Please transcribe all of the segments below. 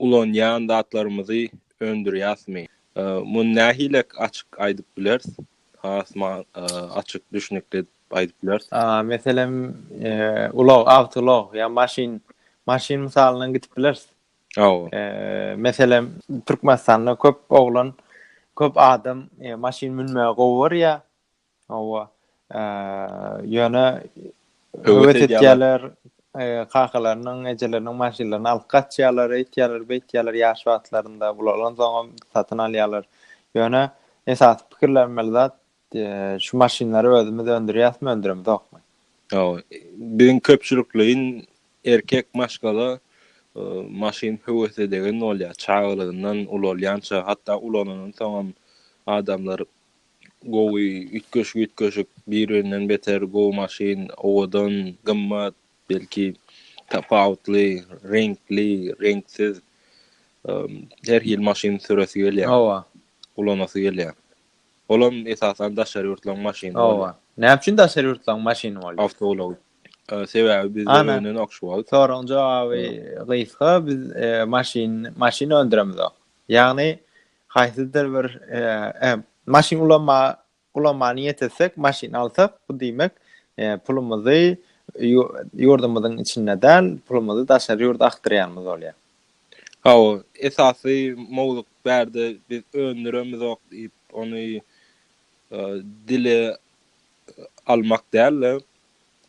Ulanýan zatlarymyzy öndürýäsmi? Muny nähili açyk aýdyp bileris? Has açyk, düşnükli edip aýdyp bileris. Meselem, ulag, awtoulag ýa maşyn, maşyn mysalyndan gidip bileris. Meselem, Türkmenistanda köp oglan, köp adam maşyn münmäge gowy görýär. Hawa. Ýöne höwes edýärler, kakalarynyň, ejeleriniň maşynlaryny alyp gaçýarlar, eýtýärler, beýtýärler ýaş wagtlarynda, ulalansoňam satyn alýarlar. Ýöne esasy pikirlenmeli zat, şu maşynlary özümiz öndürýäsmi, öndüremizokmy? Hawa. Biziň köpçülikleýin erkek maşgala maşyn höwes edegen bolýar. Çagalygyndan ulalýança, hatda ulanandan soňam adamlar Gowy üýtgeşik üýtgeşik bir birinden beter gowy maşyn owadan gymmat belki tapawutly reňkli reňksiz her hil maşyn süresi gelýär hawa ulanasy gelýär olam esasan daşary ýurtlaryň maşyny hawa näme üçin daşary ýurtlaryň maşyny bolýar awtoulag sebäbi biz önen okşuwal soragyň jogaby gysga biz maşyn maşyn öndüremizok ýagny Haýsydyr bir maşyn ulanmaga niýet etsek, maşyn alsak, bu diýmek, pulumyzy ýurdumyzyň içinde däl, pulumyzy daşary ýurda akdyrýanymyz bolýar. Hawa, esasy mowzuk bärde biz öndüremizok diýip, ony dile almak däl-de,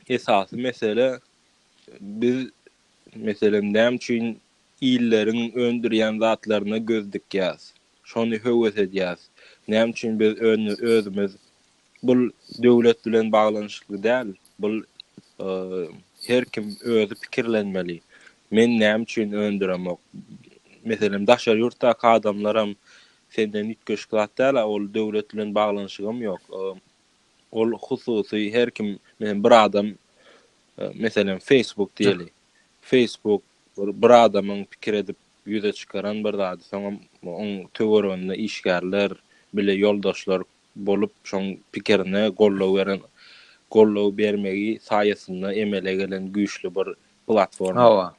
esasy mesele biz, meselem, näme üçin Illeriň öndürýän zatlaryna göz dikýäs. Şony höwes edýäs. Näme üçin biz öni özümiz bul döwlet bilen baglanyşykly däl. Bul her kim özi pikirlenmeli. Men näme üçin öndüremok. Meselem daşary ýurtdaky adamlaram senden üýtgeşik zat däl-ä. Ol döwlet bilen baglanyşygam ýok. Ol hususy her kim. Meselem bir adam meselem Facebook diýeli. Facebook Bir adamyň pikir edip ýüze çykaran bir zady soňam oň töwereginde işgärler, bile ýoldaşlar bolup şoň pikirine goldaw beren goldaw bermegi saýasynda emele gelen güýçli bir platforma. Hawa.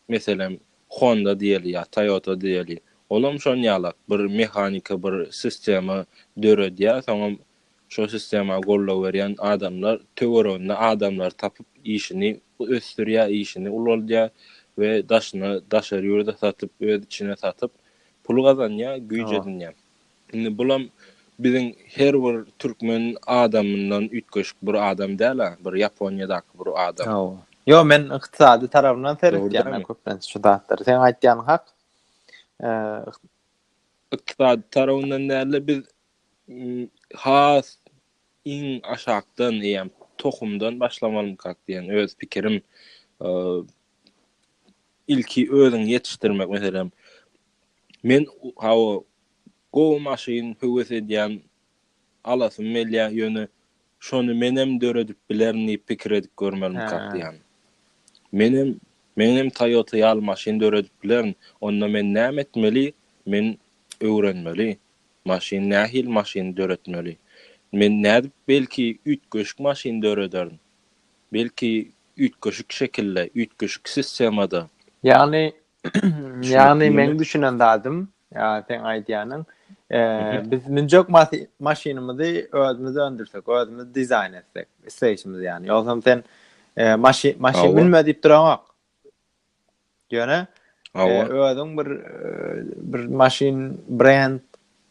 Meselem Honda diýeli ýa Toyota diýeli. Olam şon ýalak bir mehanika bir sistema döredýär soňam Şol sistema goldaw berýän adamlar töwereginde adamlary tapyp işini ösdürýär, işini ulaldýar we daşyna daşary ýurda satyp, öz içine satyp pul gazanýar, güýç edinýär. Indi bulam biziň her bir türkmen adamyndan üýtgeşik bir adam däl-ä, bir Ýaponiýadaky bir adam. Hawa. Ýok, men ykdysady tarapyndan seretýän-ä köplenç şu zatlary. Seň aýtýanyň hak. Ykdysady tarapyndan däl-de biz has iň aşakdan eýýäm tohumdan başlamalymykak diýen öz pikirim. Ilki özüňi ýetişdirmek meselem. Men hawa gowy maşyn höwes edýän alasym gelýär ýöne Şony menem döredip bilerin diýip pikir edip görmelimkak diýýän. Menem meňem Toyota ýaly maşyn döredip bilerin. Onda men näme etmeli? Men öwrenmeli. Maşyn nähili maşyny döretmeli? Men nädip belki üýtgeşik maşyn dörederin. Belki üýtgeşik şekilde, üýtgeşik sistemada. Ýagny Ýagny meň düşünen zadym, seň aýdýanyň, biz münjek maşynymyzy özümiz öndürsek, özümiz dizaýn etsek, isleýşimiz ýany. Ýogsam sen maşyn maşyn münme diýip duranok. Ýöne özüň bir bir maşyn brend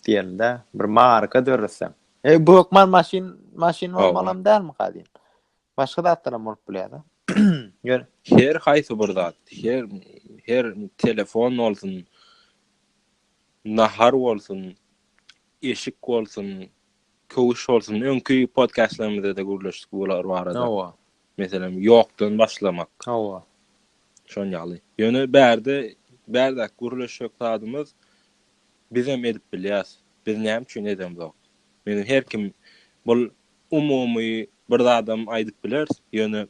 diýelde, bir marka döretseň. E bu hökman maşyn maşyn bolmalam dälmi gadyň? Başga zatlaram bolup bilýär-de. Ýöne her haýsy bir zat, her her telefon bolsun, nahar bolsun, eşik bolsun, köwüş bolsun, öňki podkastlarymyzda-da gürleşdik bular barada. Hawa. Meselem, ýokdan başlamak. Hawa. Şon ýaly. Ýöne bärde, bärde gürleşjek zadymyz bizem edip bilýäs. Biz näme üçin edemzok? Menem her kim bul Umumy bir zadam aýdyp bileris, ýöne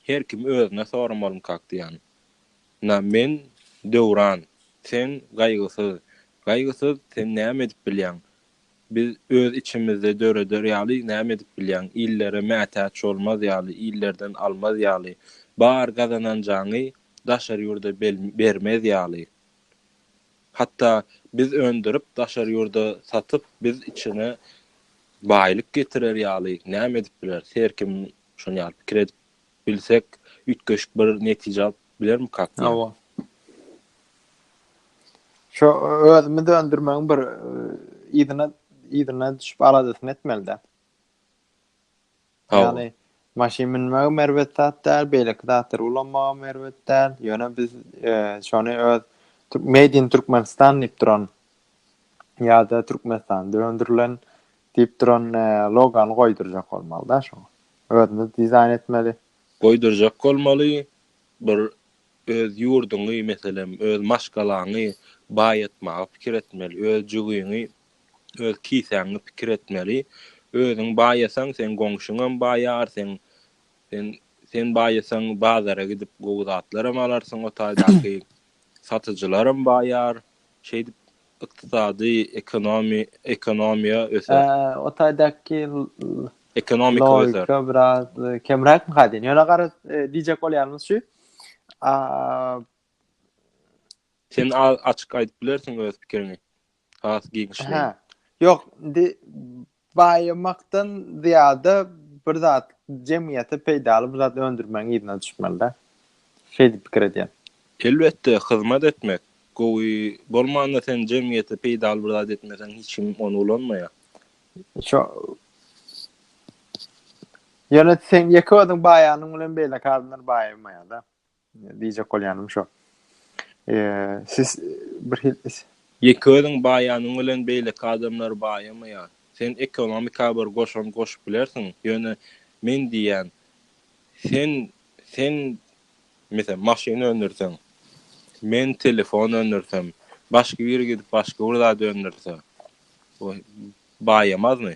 her kim özüne soramalyň kakdiýan. Na, men, Döwran, sen, Gaýgysyz. Gaýgysyz, sen näme edip bilýäň? Biz öz içimizde döreder ýaly näme edip bilýäň? Illere mätäç bolmaz ýaly, illerden almaz ýaly, bar gazananjaňy daşary ýurda bermez ýaly. Hatda biz öndürip, daşary ýurda satyp, biz içine baýlyk getirer ýaly näme edip bileris? Her kim şony ýaly pikir edip bilsek, üýtgeşik bir netije alyp bilermikak diýýän. Hawa. Şo özümiz öndürmegiň bir yzyna yzyna düşüp aladasyny etmeli-dä. Ýagny maşyn münmegem erbet zat däl, beýleki zatlary ulanmagam erbet däl. Ýöne biz şony öz Made in Türkmenistan diýip duran ýa-da Türkmenistanda öndürilen diýip duran logany goýdurjak bolmaly-da şoňa. Özümiz dizaýn etmeli. Goýdurjak bolmaly, bir öz ýurduňy, meselem, öz maşgalaňy baýatmaga pikir etmeli, öz jügiňi öz kisäňi pikir etmeli. Özüň baýasaň, seň goňşyňam baýar, seň sen sen baýasaň, bazara gidip gowy zatlaram alarsyň, o taýdaky satyjylaram baýar. Şeýdip ykdysady ekonomi ekonomiýa öser. Ä, o taýdaky Ekonomika öser. logika biraz e, kemräkmi ka diýen. Ýöne gara e, diýjek bolýanymyz şu. A, Sen a- açyk aýdyp bilersiň öz pikiriňi. has giňişleýin. Ýok, indi baýamakdan zyýada bir zat jemgyýete peýdaly bir zat öndürmegiň yzyna düşmeli-de. Şeýdip pikir edýän. Elbetde, hyzmat etmek gowy bolmanda sen jemgyýete peýdaly bir zat etmeseň hiç kim ony ulanmaýar. Şo Ýöne seň ýeke özüň baýanyň bilen beýleki adamlar baýamaýar-da. Diýjek bolýanym şo. Siz bir hil. Ýeke özüň baýanyň bilen beýleki adamlar baýamaýar. Sen ekonomika bir goşant goşup bilersiň, ýöne men diýýän, sen, sen, meselem, maşyn öndürseň, men telefon öndürsem, başga biri gidip başga bir zat öndürse, o baýamazmy?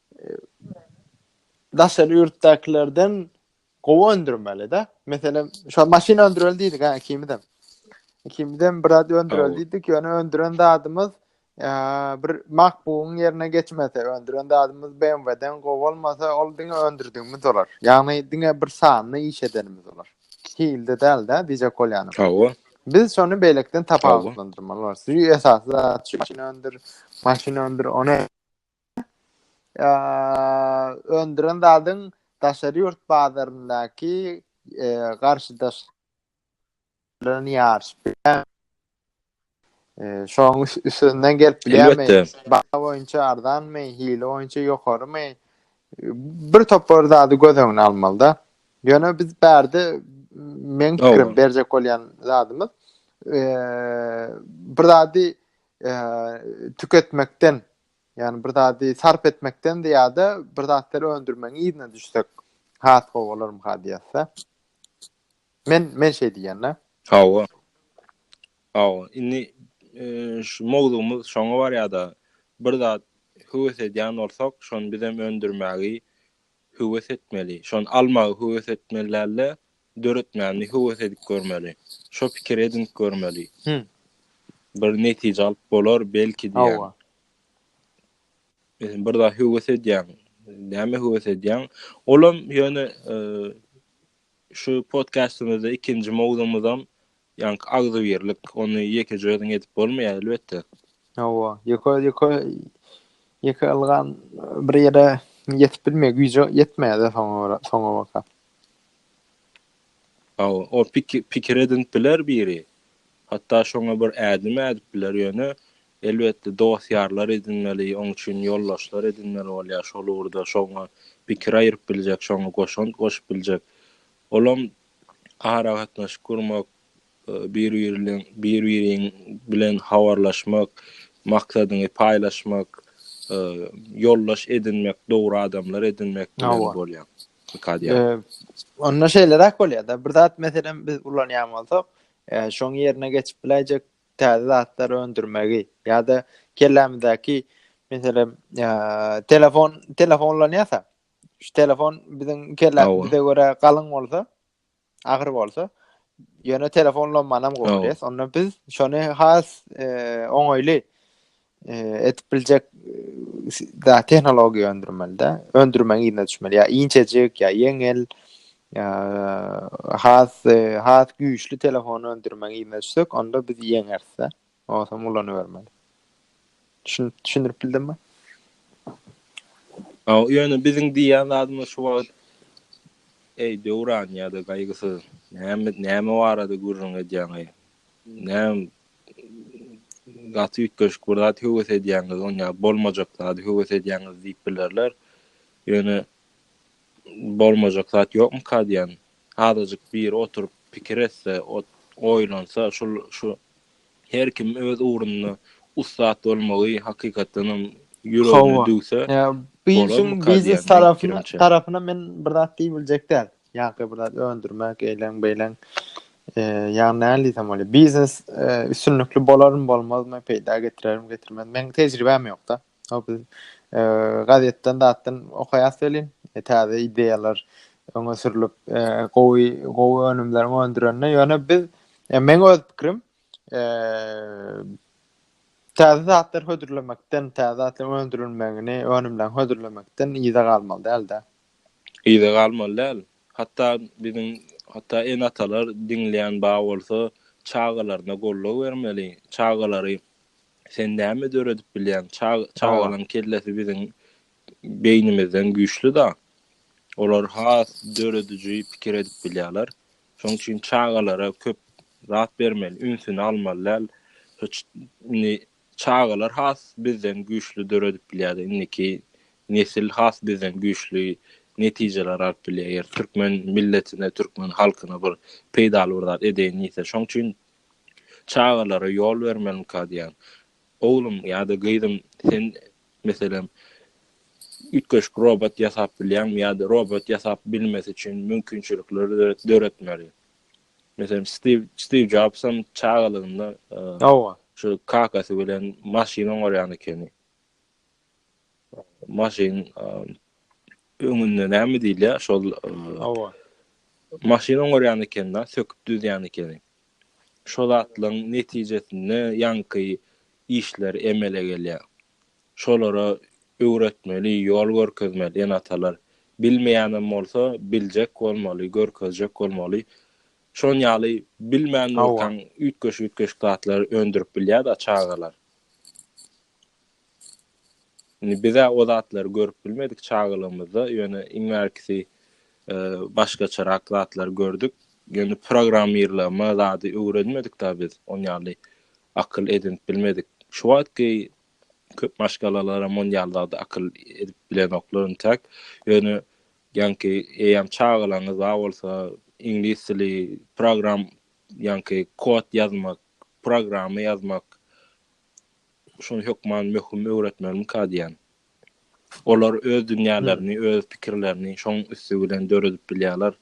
daşary ýurtdakilerden gowy öndürmeli-de. Meselem, şu maşyn öndüreli diýdik, ha, ikimizem. Ikimizem bir adı öndüreli diýdik, ýöne öndüren zadymyz bir MacBook-yň ýerine geçmese, öndüren zadymyz BMW-den gowy bolmasa, ol diňe öndürdigimiz bolar. Ýagny diňe bir sanyny iş edenimiz bolar. Hilde däl-de, diýjek bolýanym. Hawa. Biz şony beýlekden tapawutlandyrmaly bolarys. Şu esasy zat şu maşyn öndür, maşyn öndür, ony öndüren zadyň daşary ýurt bazaryndaky garşydaş ýaryş şoň üstünden gelip bilýärmi baha boýunça arzanmy hili boýunça ýokarymy bir topar zady göz öňüne almalyda ýöne biz bärde men pikirim berjek bolýan zadymyz bir zady tüketmekden Ýagny bir zady sarp etmekden zyýada bir zatlar öndürmegiň yzyna düşsek has gowy bolarmyka diýýäsdä. Men men şeý diýýända. Hawa. Hawa. Indi şu mowzugymyz şoňa barýada bir zat höwes edýän bolsak, şony bizem öndürmägi höwes etmeli. Şony almagy höwes etmeli dälde, döretmäni höwes edip görmeli. Şo pikiri edinip görmeli. Bir netije alyp bolar belki diýýän. Hawa. Bir zat höwes edýän. Näme höwes edýän? Olam ýöne şu podkastymyzda ikinji mowzumyzam Ýaňky agzybirlik, ony ýekeje özüň edip bolmaýar elbetde. Hawa, ýeke ýeke ýeke ylgam bir ýere ýetip bilmeýär, güýji ýetmeýär-de soňa görä, soňa baka. Hawa, o pikir pikir edinip biler biri. Hatda şoňa bir ädim ädip biler, ýöne elbetde dost-ýarlar edinmeli, oň üçin ýoldaşlar edinmeli bolýar, şol ugurda şoňa pikir aýryp biljek, şoňa goşant goşup biljek. Olam aragatnaşyk gurmak, bir-biriň bilen habarlaşmak, maksadyňy paýlaşmak, ýoldaş edinmek, dogry adamlar edinmek bilen bolýar. Onda şeýleräk bolýar-da, bir zat meselem biz ulanýan bolsak, şoň ýerine geçip biläýjek täze zatlar öndürmegi ýa-da kellämizdäki meselem telefon, telefon ulanýarsa, Şu telefon biziň kellämize görä galyň bolsa, agyr bolsa, ýöne telefon lomanam gowurýas. Onda biz şony has e, oňaýly e, edip biljek e, da tehnologiýa öndürmeli de, öndürmäň ýerine düşmeli. Ýa inçejik, ýa ýeňil, ýa has e, has güýçli telefon öndürmäň ýerine düşsek, onda biz ýeňeris de. Onsoň ulanybermeli. Düşün, düşündirip bildim mi? Aw, ýöne biziň diýýän zadymyz şu wagt Eý, Döwran ýa-da Gaýgysyz, näme, näme barada gürrüň edýäňeý? Näm gaty üýtgeşik bir zat höwes edýäňiz, on ýa bolmajak zady höwes edýäňiz diýip bilerler. Ýöne bolmajak zat ýokmyka diýýän, Azajyk biri oturyp pikir etse, oýlansa, şul, şu her kim öz ugrunda ussat bolmagy hakykatdan hem ýüregine düwse, bolarmyka diýýän meniň pikirimçe. Tarapyna men bir zat diýip biljek däl. Ýa-da bir zat öndürmek, eýleň, beýleň. Ýagny näme diýsem bolýar? Biznes üstünlikli bolarmy, bolmazmy, peýda getirermi, getirmezmi? Meniň tejribäm ýok-da. Hop, gazetden zatdan okaýas welin, täze ideýalar öňe sürlüp, gowy, gowy önümler öndürende, ýöne biz, men öz pikirim, täze zatlar hödürlemekden, täze zatlar öndürilmegini, önümler hödürlemekden yza galmaly däl-de. Yza galmaly däl. Hatda biziň, hatda ene-atalar diňleýän bar bolsa, çagalaryna goldaw bermeli, çagalary Sen näme döredip bilýäň? Çagalaň kellesi biziň beýnimizden güýçli-da. Olar has dörediji pikir edip bilýärler. Şonuň üçin çagalara köp zat bermeli, ünsüni almaly däl. Indi çagalar has bizden güýçli döredip bilýär-de, indiki nesil has bizden güýçli netijeler alyp bilýär. Eger türkmen milletine, türkmen halkyna bir peýdaly bir zat edeýin diýse. Şonuň üçin çagalara ýol bermeliňka diýýän. Oglum ýa-da gyzym, sen, meselem, üýtgeşik robot ýasap bilýäňmi ýa-da robot ýasap bilmesi üçin mümkinçilikleri döretmeli. Meselem, Stiw, Stiw Jobsam çagalygynda, ýa, şu kakasy bilen maşyn oňarýan ekeni. Maşyn öňünde näme diýilýär şol Hawa. Maşyn oňarýan ekenda, söküp düzýän ekeni. Şo zatlaryň netijesinde ýaňky işler emele gelýär. Şolara öwretmeli, ýol görkezmeli ene-atalar. Bilmeýänem bolsa biljek bolmaly, görkezjek bolmaly. Şon ýaly bilmän durkaň üýtgeşik-üýtgeşik zatlar öndürip bilýär-de çagalar. Indi biz-ä o zatlary görüp bilmedik çagalygymyzda, ýöne iň bärkisi başgaçarak zatlary gördük. Ýöne programmirleme zady öwrenmedik-dä biz, ony ýaly akyl edinip bilmedik. Şu wagtky köp maşgalalaram ony ýaly zady akyl edip bilenoklar intäk. Ýöne ýaňky eýýäm çagalaryňyz bar bolsa, iňlis dili, program, ýaňky kod ýazmak, programma ýazmak, Şuny hökman möhüm öwretmelimmika diýýän. Olar öz dünýälerini, öz pikirlerini şoň üsti bilen döredip bilýärler.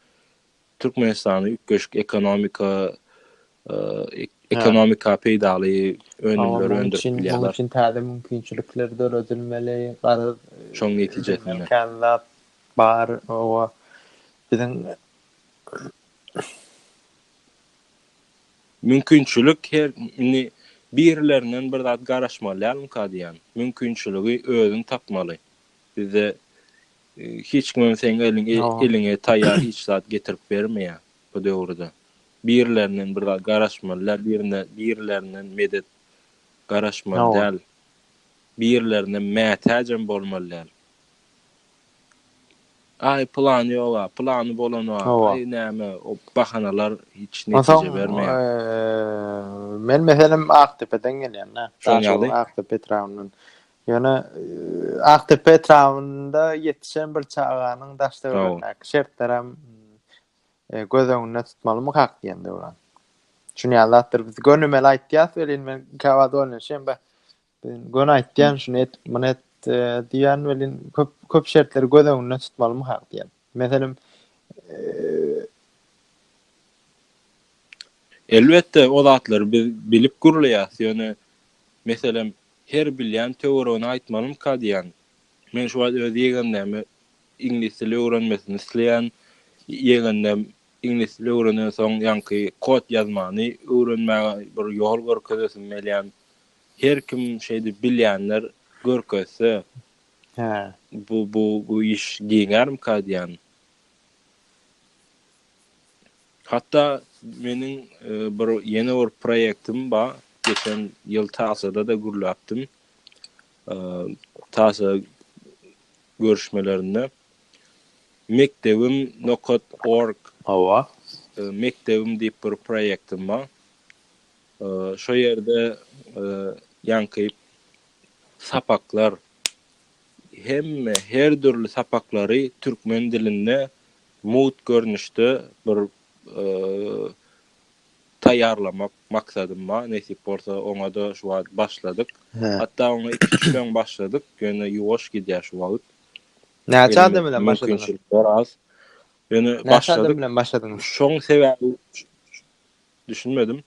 Türkmenistany üýtgeşik ekonomika, ekonomika peýdaly önümleri öndürip bilýärler. Munuň üçin täze mümkinçilikler döredilmeli. Garaz, şoň netijesinde. Känzat bar, owa. Biziň. Mümkinçilik her indi birilerinden bir zat garaşmaly dälmika diýýän. Mümkinçiligi özüň tapmaly. Bizde hiç kimem seň eliň eliňe taýýar hiç zat getirip bermeýär bu döwürde. Birilerinden bir zat garaşmaly däl, birine birilerinden medet garaşmaly däl. Birilerinden mätäjem bolmaly däl. Aý plany ýoga, plany bolana, aý näme o bahanalar hiç netije bermeýär. Soň men meselem Akdepeden gelýän-dä. Şoň ýaly. Akdepe etrabyndan. Ýöne Akdepe etrabynda ýetişen bir çaganyň daş-töweregindäki şertlerem göz öňünde tutmalymykak diýen Döwran. Şuny ýaly zatlar biz gönümel aýtýas welin men käwagt oýlanşýan, Göni aýtýan şuny et, muny et diýýän welin köp köp şertleri göz öňünde tutmalymy hak diýýän. Meselem Elbetde o zatlary biz bilip gürleýäs, ýöne meselem her bilýän töweregine aýtmalymyka diýýän. Men şu wagt öz ýegenläme iňlis dili öwrenmesini isleýän. Ýegenläm iňlis dili öwrenensoň ýaňky kod ýazmany öwrenmäge bir ýol görkezesim gelýän. Her kim şeýdip bilýänler görkezse Hä. bu bu bu iş giňärmika diýýän. Hatda meniň bir ýene bir proýektim ba, geçen ýyl TASA-da-da gürläpdim. TASA görüşmelerinde Mekdebim nokat org Hawa. mekdebim diýip bir proýektim ba. Şo ýerde ýaňky sapaklar, hemme, her dürli sapaklary türkmen dilinde mugt görnüşde bir taýýarlamak maksadym bar. Nesip bolsa, oňa-da şu wagt başladyk. Hatda oňa iki-üç gün öň başladyk, ýöne ýuwaş gidýär şu wagt. Näçe adam bilen başladyňyz? Ýöne başladyk. Näçe adam bilen başladyňyz? Şoň sebäbi, Düşünmedim.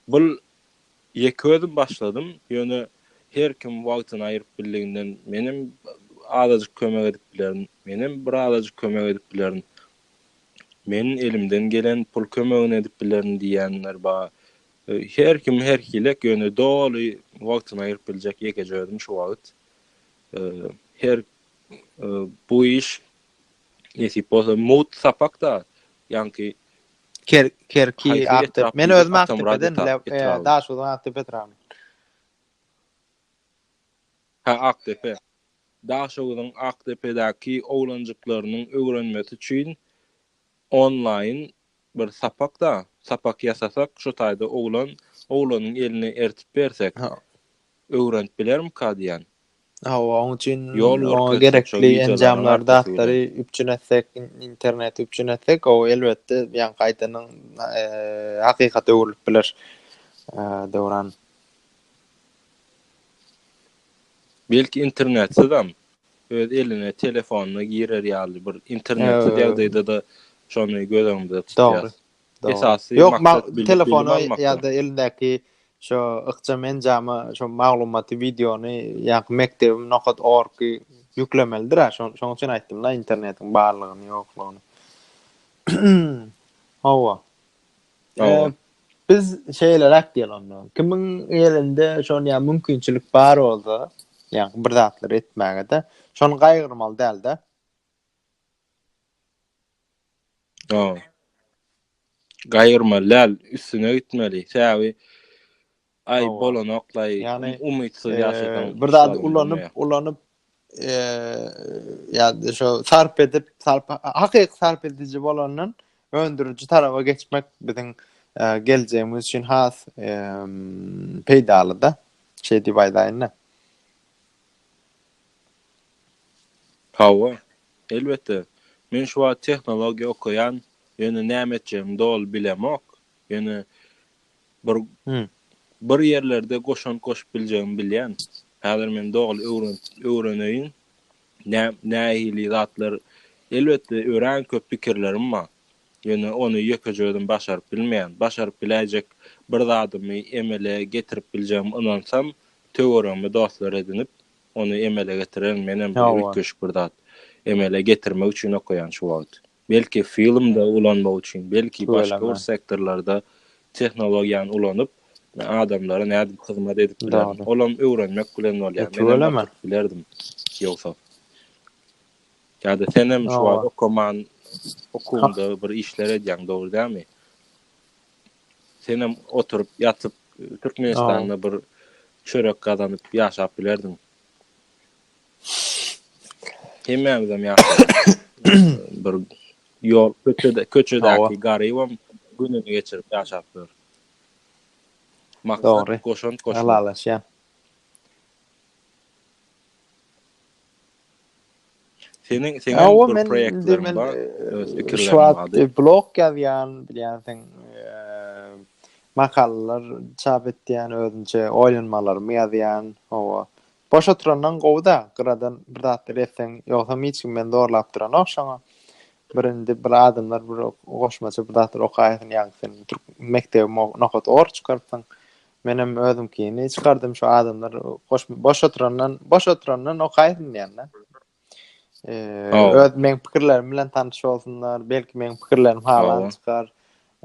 Bul ýeke özüm başladym, ýöne her kim wagtyny aýyryp bildiginden menem azajyk kömek edip bilerin, menem bir azajyk kömek edip bilerin. Men elimden gelen pul kömegini edip bilerin diýýänler bar. Her kim her hili, ýöne doly wagtyny aýyryp biljek ýekeje özüm şu wagt. Her bu iş Nesip bolsa mugt sapak-da ýaňky Ker Kerki Akdep. Men özüm Akdepeden, Daşoguzyň Akdepe etrabynyň. Hä, Akdepe. Daşoguzyň Akdepedäki oglanjyklarynyň öwrenmesi üçin Onlaýn bir sapakda sapak ýasasak şu taýda oglan oglanyň eline ertip bersek öwrenip bilermika diýän. Hawa oň üçin oňa gerekli enjamlary zatlary üpjün etsek interneti üpjün etsek gowy elbetde ýa gaýtadan hakykata öwrülip biler Döwran. Belki internetsiz hem öz eline telefonyna girer ýaly bir internetsiz ýagdaýda-da şony göz öňünde tutýas. Esasy maksat bilim almak. Telefona ýa-da elindäki şo ykjam enjama şo maglumaty, wideony ýa-da mekdebim nokat org ýüklemelidir-ä. Şonuň üçin aýtdym-da internetiň barlygyny, ýoklugyny. Hawa. Biz şeýle rät diýeli onda. Kimiň elinde şon ýa mümkinçilik bar bolsa, ýa bir zatlar etmäge de, şony gaýgyrmaly däl de. Ha. Gaýgyrmaly däl, üstüne gitmeli. Säwi Aý bolanoklaý umytsyz ýaşasaň. Bir zady ulanyp ulanyp ýa şo sarp edip sarp hakyky sarp ediji bolandan öndüriji taraba geçmek biziň geljegimiz üçin has peýdalyda şeý diýip aýdaýynda. Hawa, elbetde. Men şu wagt tehnologiýa okaýan, ýöne näme etjegimi doly bilemok. Ýöne Bir bir ýerlerde goşant goşup biljegimi bilýän. Häzir men doly öwreneýin. Nä nähili zatlar elbetde örän köp pikirlerim bar. Ýöne ony ýekeje özüm başaryp bilmeýän. Başaryp biläýjek bir zadymy emele getirip biljegimi ynansam, töweregime dostlar edinip, ony emele getirerin. Menem bir üýtgeşik bir zat emele getirmek üçin okaýan şu wagt. Belki filmde ulanmak üçin, belki başga bir sektorlarda tehnologiýany ulanyp, adamlara nädip hyzmat edip bilerin. Olam öwrenmek bilen bolýar. Menem oturyp bilerdim ýogsa. Ýa-da senem şu wagt okaman okuwda bir işler edýäň, dogry dälmi? Senem oturyp, ýatyp Türkmenistanda bir çörek gazanyp ýaşap bilerdiň. Hemmämizem ýaşaýarys. Bir ýol köçede, köçedäki garybam gününi geçirip ýaşap ýör. Maksat goşant goşmak. Halalaşýan. Seniň seniň bir proýektlerin bar. Şu wagt blog ýazýan, bilýänsiň, makalalar çap etýän, özümçe oýlanmalarymy ýazýan. Hawa. Boş oturandan gowy-da, gyradan bir zatlar etseň, ýogsam hiç kim meni zorlap duranok şoňa. Bir indi bir adamlar bir goşmaça bir zatlar okaýarsyň, ýaňky sen türk mekdebi nokat or çykarypsyň. Menem özümkini çykardym şu adamlar boş boş oturandan boş oturandan okaýsyn diýende. Eee öz men pikirlerim bilen tanyş bolsunlar. Belki men pikirlerim halan çykar.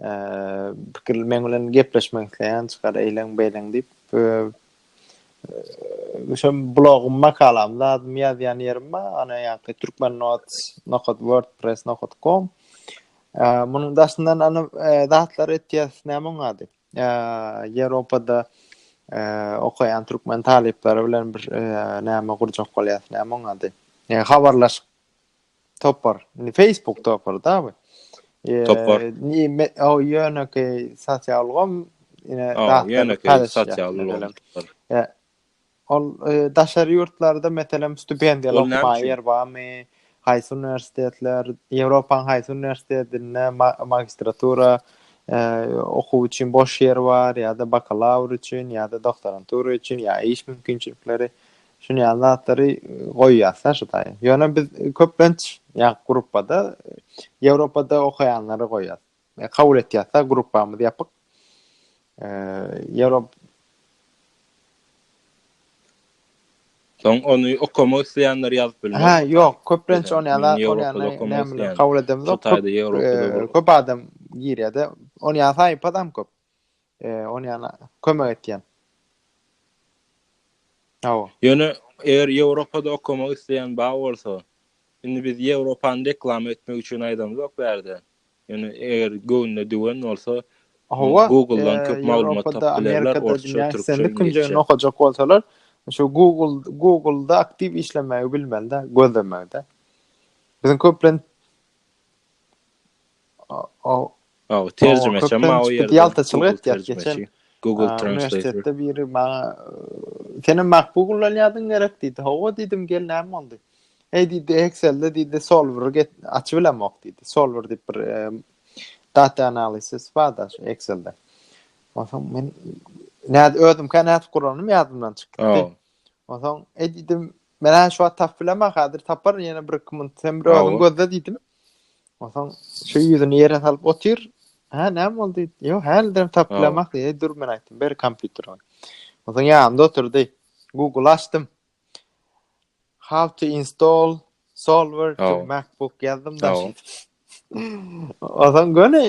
Eee pikir men bilen gepleşmek isleýän çykar eýlen beýlen diýip. Şu blogum makalam zadymy ýazýan ýerim bar. Ana ýaňky türkmen notes nokat wordpress nokat com. Eee munuň daşyndan ana zatlar etýär näme oňady. Ýewropada okaýan türkmen talyplary bilen bir näme gurjak bolýas, näme oň ady? Habarlaşyk topar. Indi Facebook topar-da bu. Topar. O ýöneki sosial ulgam ine ýöneki sosial ulgam. Ol daşary ýurtlarda meselem stipendiýaly okamaga ýer barmy? Haýsy uniwersitetler, Ýewropanyň haýsy uniwersitetinde magistratura okuw üçin boş ýer bar ýa-da bakalawr üçin ýa-da doktorantura üçin ýa iş mümkinçilikleri şuny ýaly zatlary goýýarsa şu taýy. Ýöne biz köplenç ýa gruppada Ýewropada okaýanlary goýýas. Kabul etýäsda gruppamyz ýapyk. Ýa-da Soň ony okamak isleýänler ýazyp bilmez. Ha, ýok, köplenç ony ýa-da ony ýa-da kabul edemizok. Köp adam girýär-de, ony ýa-da saýypadam köp. Ony ýana kömek etýän. Hawa. Ýöne eger Ýewropada okamak isleýän bar bolsa, indi biz Ýewropany reklama etmek üçin aýdamzok bu ýerde. Ýöne eger göwnüne düwen bolsa, Google-dan köp maglumat tapyp bilerler, orsça, türkçe, iňlisçe. Künjegini okajak bolsalar, şu Google-da aktiw işlemegi bilmeli-de, gözlemegi-de. Biziň köplenç Aw, terjimeçem bar o ýerde. Ýaltaçylyk etýär geçen. Google Translate. biri maňa senem MacBook ulanýardyň gerek diýdi. Hawa diýdim, gel näme boldy? Heý diýdi, Excel-de diýdi, Solver get açyp bilemok diýdi. Solver diýip bir data analisis bar-da Excel-de. Onsoň men näde özüm kan näde guranym ýadymdan çykdy. Onsoň e diýdim, men şu wagt tapyp bilemok, häzir taparyn ýene bir iki minut. Sen bir özüň gözle diýdim. Onsoň şu ýüzüni ýere salyp otyr. Hä, näme boldy? Ýok, hälidem tapyp bilemak diýdi. Dur, men aýtdym, ber kompýuteri. Onsoň ýanymda oturdy. Google açdym. How to install solver to MacBook ýazdym da. Onsoň göni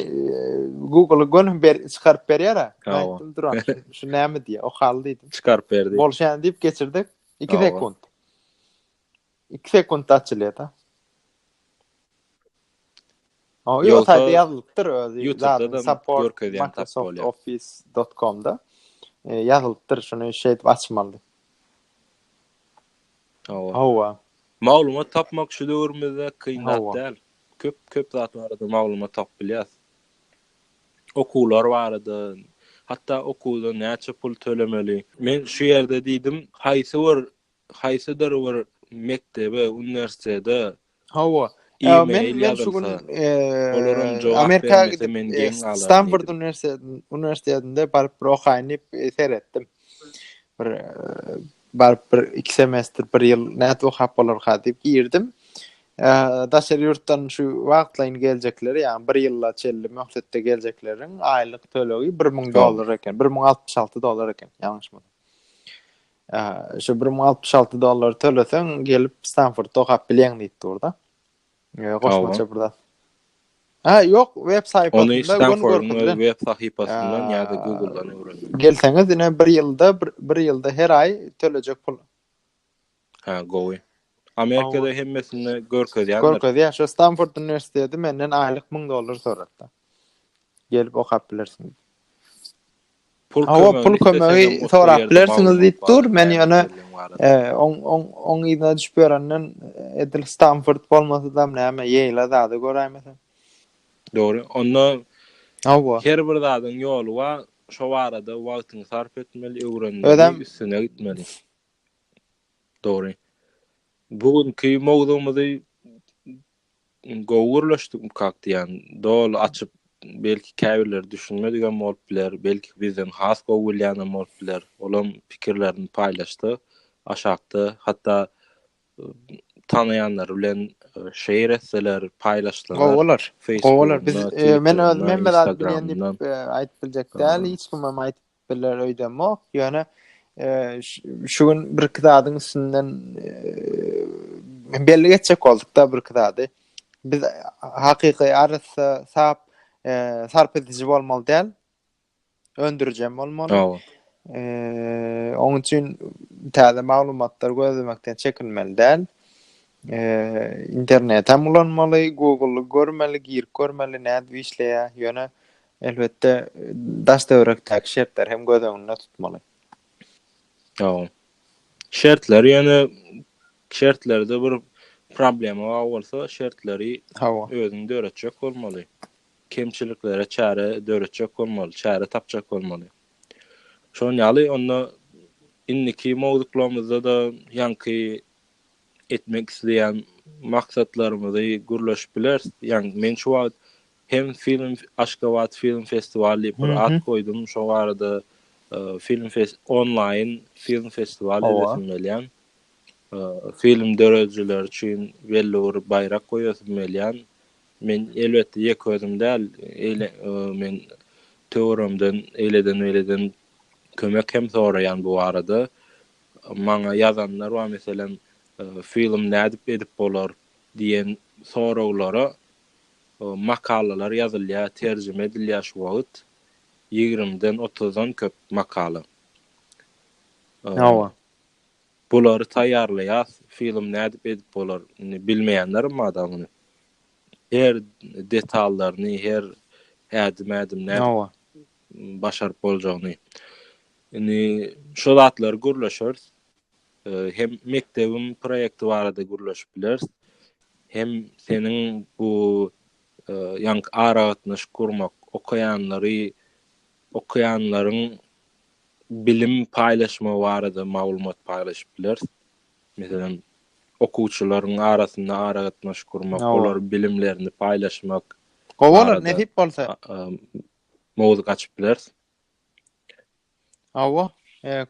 Google göni ber çykaryp berýär. Aýtdym duran. Şu näme diýýär? Okal diýdim. Çykaryp berdi. Bolşan diýip geçirdik. 2 sekunt. Iki sekuntda açylýar da. O ýol saýty ýazylypdyr özi. Ýutubda support görkezýän tap bolýar. Office.com-da e, ýazylypdyr şuny şeýdip açmaly. Hawa. Hawa. Maglumat tapmak şu döwrümizde kyn zat däl. Köp köp zat barada maglumat tapyp bilýäs. Okuwlar barada, hatda okuwda näçe pul tölemeli. Men şu ýerde diýdim, haýsy bir haýsydyr bir mekdebe, uniwersitete Hawa. Men men şu gün Amerika gidip men geň galaryn. Stanford uniwersitetinde baryp bir okaýyn diýip seretdim. Bir baryp bir iki semestr, bir ýyl nädip okap bolarka diýip girdim. Daşary ýurtdan şu wagtlaýyn geljekler, ýagny bir ýyla çenli möhletde geljekleriň aýlyk tölegi bir müň dollar eken, bir müň altmyş alty dollar eken, ýalňyşmasam. Şu bir müň altmyş alty dollar töleseň, gelip Stanfordda okap bilýän diýip durda. Goşmaça bir zat. Ha, ýok, web saýpasynda göni Stanfordda web sahypasyndan ýa-da Google-dan öwrendim. Gelseňiz, ine bir ýylda, bir ýylda her aý tölejek pul. Ha, gowy. Amerikada hemmesini görkezýär. Görkezýär. Şu Stanford uniwersiteti menden aýlyk 1000 dollar sorapdy. Gelip okap bilersiň. Hawa, pul kömegi sorap bilersiňiz diýip dur. Men ýöne oň oň oň yzyna düşüp ýörenden edil Stamford bolmasadam näme, Ýeýla zada göräýmesem. Dogry. Onda Hawa. Her bir zadyň ýoly bar. Şo barada wagtyňy sarp etmeli, öwrenmeli, üstüne gitmeli. Dogry. Bu günki mowzugymyzy Gowy gürleşdik kakdy jan. Doly açyp belki käbirleri düşünmedigem bolup biler, belki bizden has gowy bilýänem bolup biler. Olam pikirlerini paýlaşdy. Aşakda hatda tanaýanlary bilen şeýr etseler, paýlaşsalar. Gowy bolar. Gowy bolar. Biz men özüm hemme zady bilýän diýip aýdyp biljek däl. Hiç kimem aýdyp Biler öýdemok, ýöne şu gün birki zadyň üstünden belli geçjek bolduk-da birki zady. Biz hakyky arassa, sap, sarp ediji bolmaly däl. Öndürijem bolmaly. Hawa. Eee, oň üçin täze maglumatlar gözlemekden çekinmeli däl. Eee, internetem ulanmaly, Google-y görmeli, girip görmeli nädip işleýär. Ýöne Elbetde, daş-töwerekdäki şertleri hem göz öňünde tutmaly. Ýow. Şertler ýöne şertlerde bir problema bar bolsa, şertleri Hawa. özüň döretjek bolmaly. Kemçiliklere çäre döretjek bolmaly, çäre tapjak bolmaly. Şonuň ýaly onda indiki mowzuklarymyzda-da ýaňky etmek isleýän maksatlarymyzy gürleşip bileris. Ýaňky men şu wagt Hem film Aşgabat film festiwaly diýip bir at goýdum. Şo barada film fest onlaýyn film festiwaly edesem gelýän. Film döredijileri üçin belli bir baýrak goýasym gelýän. Men elbetde ýeke özüm däl, eýle men töweregimden eýleden-beýleden kömek hem soraýan bu barada. Maňa ýazanlar bar, meselem, film nädip edip bolar diýen soraglara makalalar ýazylýar, terjime edilýär şu wagt, ýigrimiden otuzdan köp makala. Hawa. Bulary taýýarlaýas, film nädip edip bolar, indi bilmeýänlerim bar dagy muny. Her detallaryny, her ädim-ädim nädip Hawa. başaryp boljagyny. Indi şu zatlary gürleşeris. Hem mekdebiň proýekti barada gürleşip bileris, hem seniň bu ýaňky aragatnaşyk gurmak, okaýanlary, okaýanlaryň bilim paýlaşmagy barada maglumat paýlaşyp bileris. Meselem, okuwçylaryň arasynda aragatnaşyk gurmak, olaryň bilimlerini paýlaşmak. Gowy bolar, nesip bolsa. Mowzuk açyp bileris. Hawa,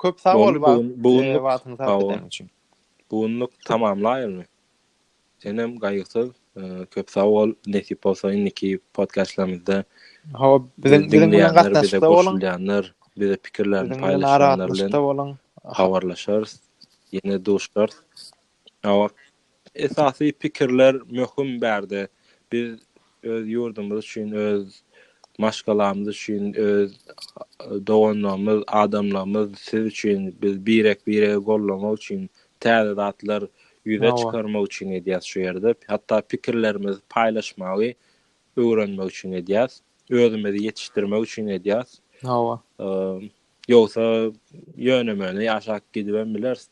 köp sag bol wagtyňy sarp edeniň üçin. Bu günlük tamamlaýalymy? Senem gaýgysyz, köp sag bol. Nesip bolsa indiki podkastlarymyzda Hawa, biziň bilen gatnaşykda boluň. Bize pikirlerini paýlaşýanlar bilen habarlaşarys. Ýene duşarys. Esasy pikirler möhüm bärde. Biz öz ýurdumyz üçin, öz maşgalamyz üçin, öz doganlarymyz, adamlarymyz, siz üçin, biz birek-biregi goldamak üçin, täze zatlar ýüze çykarmak üçin edýäs şu ýerde. Hatda pikirlerimizi paýlaşmagy öwrenmek üçin edýäs. Özümizi ýetişdirmek üçin edýäs. Hawa. Ýogsa ýöne-möne ýaşap gidibem bileris.